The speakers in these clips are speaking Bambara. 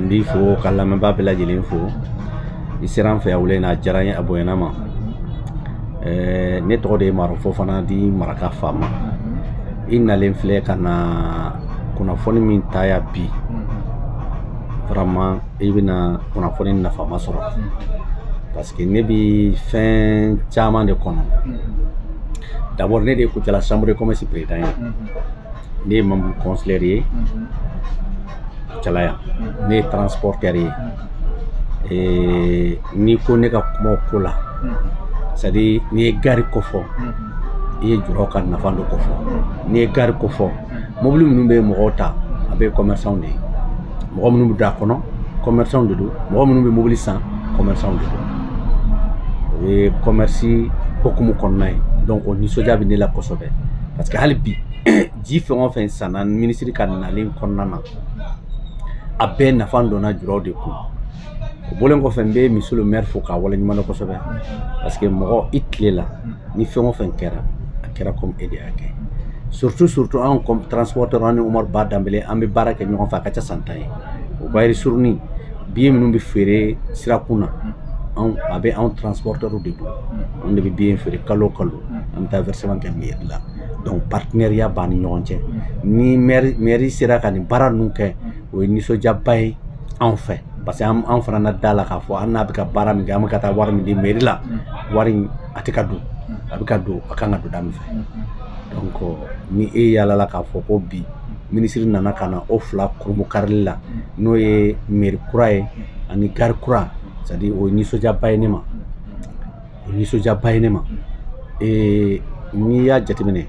n b'i fo ka lamɛnbaa bɛɛ lajɛlen fo i sera an fɛ yan wula in na a diyara n ye a bonyana n ma eh, ne tɔgɔ de ye maro fofana dit maraka faama i nalen filɛ ka na kunnafoni min ta yan bi vraiment i bɛna kunnafoni nafama sɔrɔ parce que ne bɛ fɛn caman de kɔnɔ d'abord ne de ye kucala chambre de commerce président ye ne ye membre consulaire ye kucala yan ne ye transporteur ye n'i ko ne ka kuma o ko la c'est à dire n'i ye gari ko fɔ i ye juraw ka nafa dɔ ko fɔ n'i ye gari ko fɔ mobili minnu bɛ mɔgɔw ta a bɛɛ commerçant de ye mɔgɔ minnu bɛ don a kɔnɔ commerçant de don mɔgɔ minnu bɛ mobili san commerçant de don o ye commerce hokumu kɔnɔna ye donc o nisɔndiya bɛ ne la kosɛbɛ parce que hali bi ji fɛn o fɛn sanna minisiri ka nali kɔnɔna na a bɛɛ nafa donna juraw de kun o bɔlen kɔfɛ n bɛ monsieur le maire fo k'a waleɲumandɔn kosɛbɛ parce que mɔgɔ i tile la ni fɛn o fɛn kɛra a kɛra komi e de y'a kɛ surtout surtout anw comme transporteur an ni umaru ba danbele an bɛ baara kɛ ɲɔgɔn fɛ a ka ca san tan ye o bayiri surunin biye minnu bɛ feere sirakun na anw a bɛ anw transporteur de bolo anw de bɛ biye feere kalo o kalo an bɛ taa versement kɛ mairie la donc partenariat b'an ni ɲɔgɔn cɛ ni mairie sera ka nin baara ninnu kɛ o ye nisɔndiyaba ye anw fɛ parce que an fana na da a la k'a fɔ an n'a bɛ ka baara min kɛ an bɛ ka taa wari min di meri la wari in a tɛ ka dun a bɛ ka don a kan ka don da min fɛ donc ni e yaalala k'a fɔ ko bi minisiri nana ka na o fila kurunbonkarili la n'o ye meri kura ye ani gari kura c'est à dire o ye nisɔndiyaba ye ne ma o nisɔndiyaba ye ne ma ee n'i y'a jateminɛ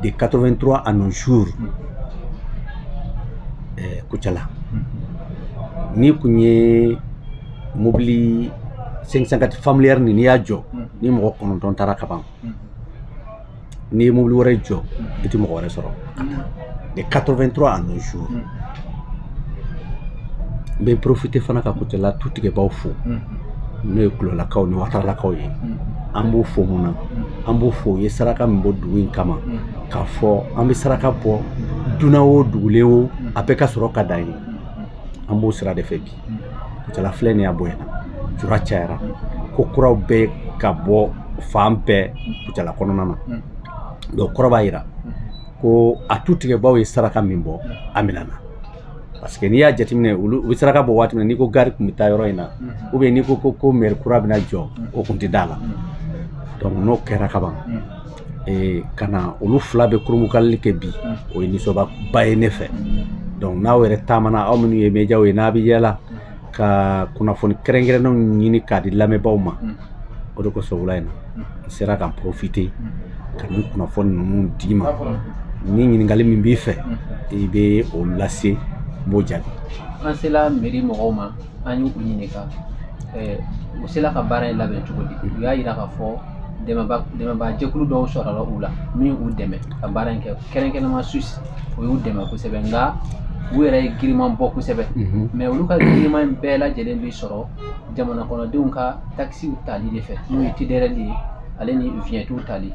de 83 à nos jours ɛɛ Kucala n'i kun ye mobili 504 familière nin n'i y'a jɔ ni mɔgɔ kɔnɔntɔn taara ka ban n'i ye mobili wɛrɛ jɔ i tɛ mɔgɔ wɛrɛ sɔrɔ de 83 à nos jours n bɛ profiter fana ka kucala tu tigɛbaaw fo n'o ye kulolakaw ni wataralakaw ye an b'o fo mun na an b'o fo u ye saraka min bɔ dugu in kama k'a fɔ an bɛ saraka bɔ dunan o dugulen o a bɛɛ ka sɔrɔ ka dan ye an b'o sira de fɛ bi kucala filɛ nin y'a bonyana jura cayara ko kuraw bɛ ka bɔ fan bɛɛ kucala kɔnɔna na donc kɔrɔ b'a yira ko a tutigɛbaaw ye saraka min bɔ a minɛna parce que n'i y'a jateminɛ olu u bɛ saraka bɔ waati min na n'i ko gari tun bɛ taa yɔrɔ in na ou bien n'i ko ko ko mɛri kura bɛna jɔ o tun tɛ d'a la donc n'o kɛra kaban ee ka na olu fila bɛɛ kurumukalili kɛ bi o ye nisɔndiyaba ye ne fɛ donc n'aw yɛrɛ taamana aw minnu ye mɛdiyaw ye n'a bɛ yaala ka kunnafoni kɛrɛnkɛrɛnnenw ɲini k'a di lamɛnbaaw ma o de kosɔn wula in na n sera ka n porofite ka nin kunnafoni ninnu d'i ma ni ɲininkali min b'i fɛ i bɛ o lase n b'o jaabi an sela mɛri mɔgɔw ma an y'u ɲininka u sela ka baara in labɛn cogo di u y'a jira k'a fɔ dɛmɛbaa jɛkulu dɔw sɔrɔla u la min y'u dɛmɛ ka baara in kɛ kɛrɛnkɛrɛnnama suwisi o y'u dɛmɛ kosɛbɛ nka u yɛrɛ ye giriman bɔ kosɛbɛ mɛ olu ka giriman in bɛɛ lajɛlen bɛ sɔrɔ jamana kɔnɔdenw ka takisiw tali de fɛ n'o ye tidɛrɛli ye ale ni viɲɛtiw tali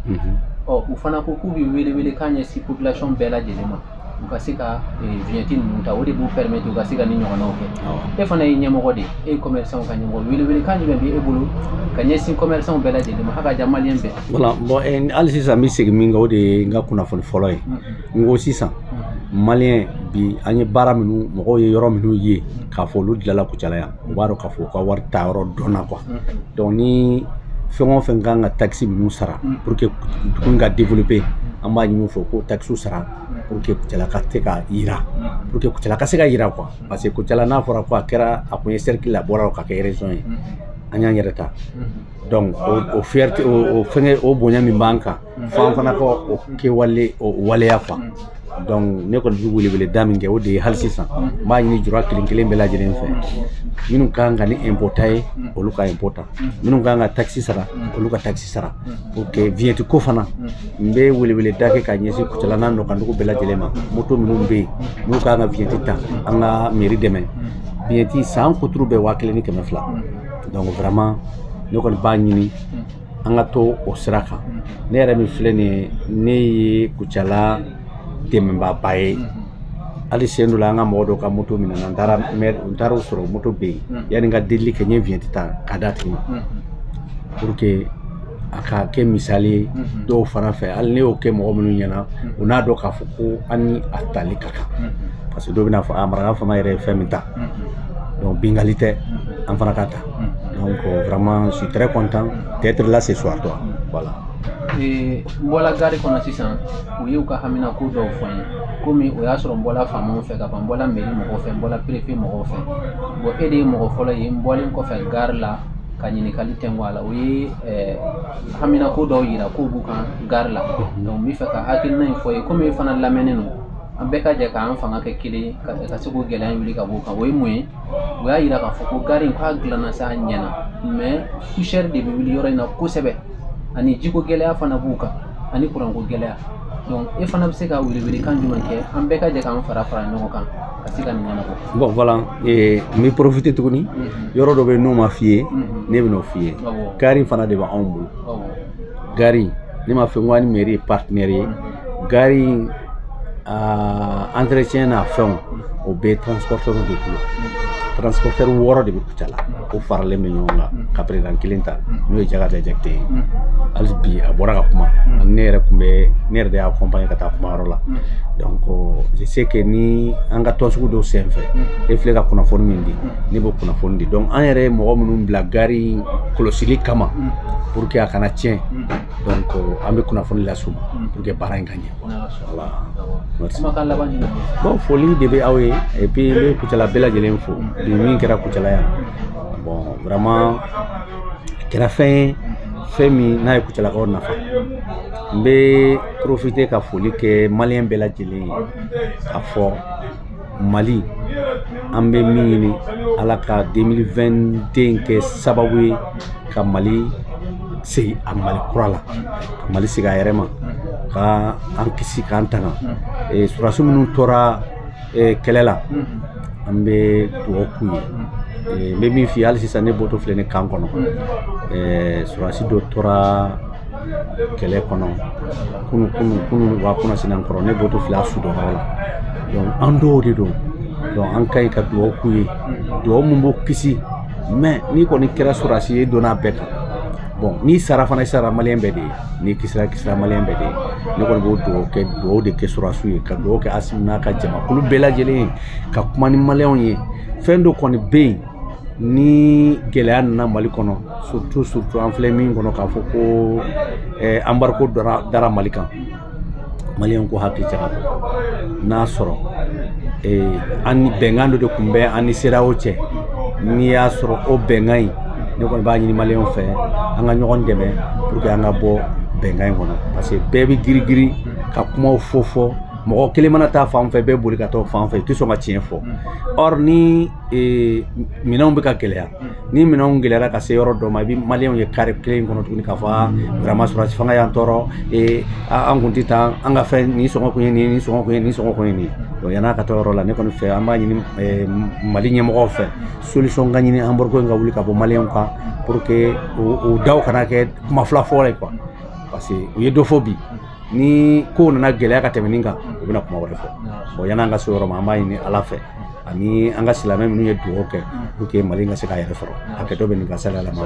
ɔ u fana ko k'u bɛ welewele k'a ɲɛsin popilasɔn bɛɛ lajɛlen ma u ka se ka viɲɛti ninnu ta o de b'u permettre u ka se ka ni ɲɔgɔnnaw kɛ e fana ye ɲɛmɔgɔ de ye e ye commerçant ka ɲɛmɔgɔ welewelekan jumɛn bɛ e bolo ka ɲɛsin commerçant bɛɛ lajɛlen ma hakaja maliyɛn bɛɛ voilà bon eh, hali sisan n bɛ segin min kan o de ye n ka kunnafoni fɔlɔ ye n ko sisan maliyɛn bi an ye baara minnu mɔgɔw ye yɔrɔ minnu ye k'a fɔ olu dilanla kucala yan u b'a dɔn k'a fɔ u ka wari taayɔrɔ dɔnna quoi donc ni fɛn o fɛn ka kan ka takisi minnu sara pour que dugu ka développer an b'a ɲini u fɛ u k'o takisiw sara pour que Kucala ka se ka yiriwa pour que Kucala ka se ka yiriwa quoi parce que Kucala n'a fɔra ko a kɛra a kun ye cercle y'a bɔra ka kɛ région ye an y'an yɛrɛ ta donc o fierté o fɛngɛ o bonya min b'an kan f'an fana ka o kɛwale o waleya quoi donc ne kɔni bɛ weleweleda min kɛ o de ye hali sisan n b'a ɲini jura kelen kelen bɛɛ lajɛlen fɛ minnu ka kan ka ni impôt ta ye olu ka impôt ta minnu ka kan ka takisi sara olu ka takisi sara pour que vignette ko fana n bɛ weleweleda kɛ ka ɲɛsin kucala n'a nɔkandugu bɛɛ lajɛlen ma moto minnu bɛ yen n'u ka kan ka vignette ta an ka mairie dɛmɛ vignette san kuturu bɛɛ waa kelen ni kɛmɛ fila donc vraiment ne kɔni b'a ɲini an ka to o sira kan ne yɛrɛ min filɛ nin ye ne ye kucala dɛmɛbaaba ye hali sen dɔ la an ka mɔgɔ dɔ ka moto minɛna n taara n taara o sɔrɔ moto bɛ yen yanni n ka delili kɛ n ye viɲɛti ta ka d'a tigi ma pour que a ka kɛ misali ye dɔw fana fɛ hali ne y'o kɛ mɔgɔ minnu ɲɛna u n'a dɔn k'a fɔ ko an ni a tali ka kan parce que dɔw bɛna fɔ a maraka faama yɛrɛ ye fɛn min ta donc bingali tɛ an fana ka ta Donc euh, vraiment, je suis très content d'être là ce soir, toi. Voilà. n bɔla gari kɔnɔ sisan u y'u ka haminako dɔw fɔ n ye komi o y'a sɔrɔ n bɔla faamaw fɛ ka ban n bɔla meri mɔgɔw fɛ n bɔla perefe mɔgɔw fɛ bon e de ye mɔgɔ fɔlɔ ye n bɔlen kɔfɛ gari la ka ɲininkali kɛ ko a la u ye haminako dɔw yira k'o b'u kan gari la donc n b'a fɛ ka hakilina in fɔ i ye komi e fana lamɛnnen don an bɛɛ ka jɛ k'an fanga kɛ kelen ka se k'o gɛlɛya in wuli ka b'u kan o ye mun ye o y'a yira k'a fɔ ko gari in ko a dilanna sa a ɲɛna mais poussière de bɛ wuli yɔrɔ in na kosɛbɛ ani jiko gɛlɛya fana b'u kan ani kuranko gɛlɛya donc e fana bɛ se ka welewelekan jumɛn kɛ an bɛɛ ka jɛ k'an fara fara ɲɔgɔn kan ka se ka nin ɲɛnabɔ bon voilà eh, n bɛ profite tuguni yɔrɔ dɔ bɛ yen n'o ma f'i ye ne bɛn'o f'i ye gari fana de bɛ anw bolo gari ne m'a fɛ n ko an ni mɛri ye partenaire ye gari in entretien n'a fɛnw o bɛɛ transportɛriw de bolo transportɛri wɔɔrɔ de bɛ kucala o faralen bɛ ɲɔgɔn kan ka président kelen ta n'o ye jakata jakite ye hali bi a bɔra ka kuma ani ne yɛrɛ tun bɛ ne yɛrɛ de y'a accompagner ka taa kuma yɔrɔ la donc je sais que ni an ka tɔnsigi dɔw sen fɛ e filɛ ka kunnafoni min di ne b'o kunnafoni di donc an yɛrɛ ye mɔgɔ minnu bila gari kɔlɔsili kama pour que a kana tiɲɛ mm. donc euh, an bɛ kunnafoni las'u ma mm. pour que baara in ka ɲɛ voilà bon foli de bɛ aw ye et puis n bɛ kucala bɛɛ lajɛlen fo mm. bi min kɛra kucala yan bon vraiment a kɛra fɛn ye fɛn min n'a ye kucalakaw nafa n bɛ profiter ka foli kɛ maliyɛn bɛɛ lajɛlen ye k'a fɔ mali an bɛ min ɲini ala ka 2022 kɛ sababu ye ka mali segin a mali kura la ka mali segin a yɛrɛ ma ka an kisi k'an tanga eh, surasi minnu tora eh, kɛlɛ la an bɛ dugawu k'u ye eh, n bɛ min f'i ye hali sisan ne bɔtɔ filɛ ne kan kɔnɔ surasi dɔ tora kɛlɛ kɔnɔ kunu kunu kunu wa kunasini kɔrɔ ne bɔtɔ filɛ a su dɔ la donc an dɔw de don donc an ka ɲi ka dugawu k'u ye dugawu min b'u kisi mais n'i kɔni kɛra sɔrɔsi ye donna bɛɛ kan bon n'i sara fana i sara maliyɛn bɛɛ de ye n'i kisira i kisira maliyɛn bɛɛ de ye ne kɔni b'o dugawu kɛ dugawu de kɛ sɔrɔsiw ye ka dugawu kɛ asimi n'a ka jamakulu bɛɛ lajɛlen ye ka kuma ni maliyɛnw ye fɛn dɔ kɔni bɛ yen ni gɛlɛya nana mali kɔnɔ surtout surtout an filɛ min kɔnɔ k'a fɔ ko eh, embargo dara, dara mali kan maliyɛnw k'u hakili jagabɔ n'a sɔrɔ eh, an bɛnkan dɔ de tun bɛ an ni CEDEAO cɛ n'i y'a sɔrɔ o bɛnkan in ne kɔni b'a ɲini maliyɛnw fɛ an ka ɲɔgɔn dɛmɛ pour que an ka bɔ bɛnkan in kɔnɔ parce que bɛɛ bɛ girigiri ka kumaw fɔ fɔ mɔgɔ kelen mana taa fan fɛ bɛɛ boli ka taa fan fɛ i tɛ sɔn ka tiɲɛ fɔ or ni ee minɛnw bɛ ka gɛlɛya ni minɛnw gɛlɛyara ka se yɔrɔ dɔ ma i bɛ maliyɛnw ye carré kelen kɔnɔ tuguni k'a fɔ vraiment sɔrɔdasi fanga y'an tɔɔrɔ ee an kun tɛ taa an ka fɛn nin sɔngɔ kun ye nin nin sɔngɔ kun ye nin sɔngɔ kun ye nin donc yann'a ka taa o yɔrɔ la ne kɔni fɛ an b'a ɲini mali ɲɛmɔgɔw fɛ solution ka ɲini embargo in ka wuli ka bɔ maliyɛnw kan pour que o daw kana kɛ kuma fila fɔla ye quoi parce que u ye dɔ fɔ bi ni ko nana gɛlɛya ka tɛmɛ nin kan u bɛna kuma wɛrɛ fɔ bon yan'an ka se o yɔrɔ ma an b'a ɲini ala fɛ ani an ka silamɛ minnu ye dugawu kɛ pour que mali ka se k'a yɛrɛ sɔrɔ hakɛto bɛ nin kan sali ala ma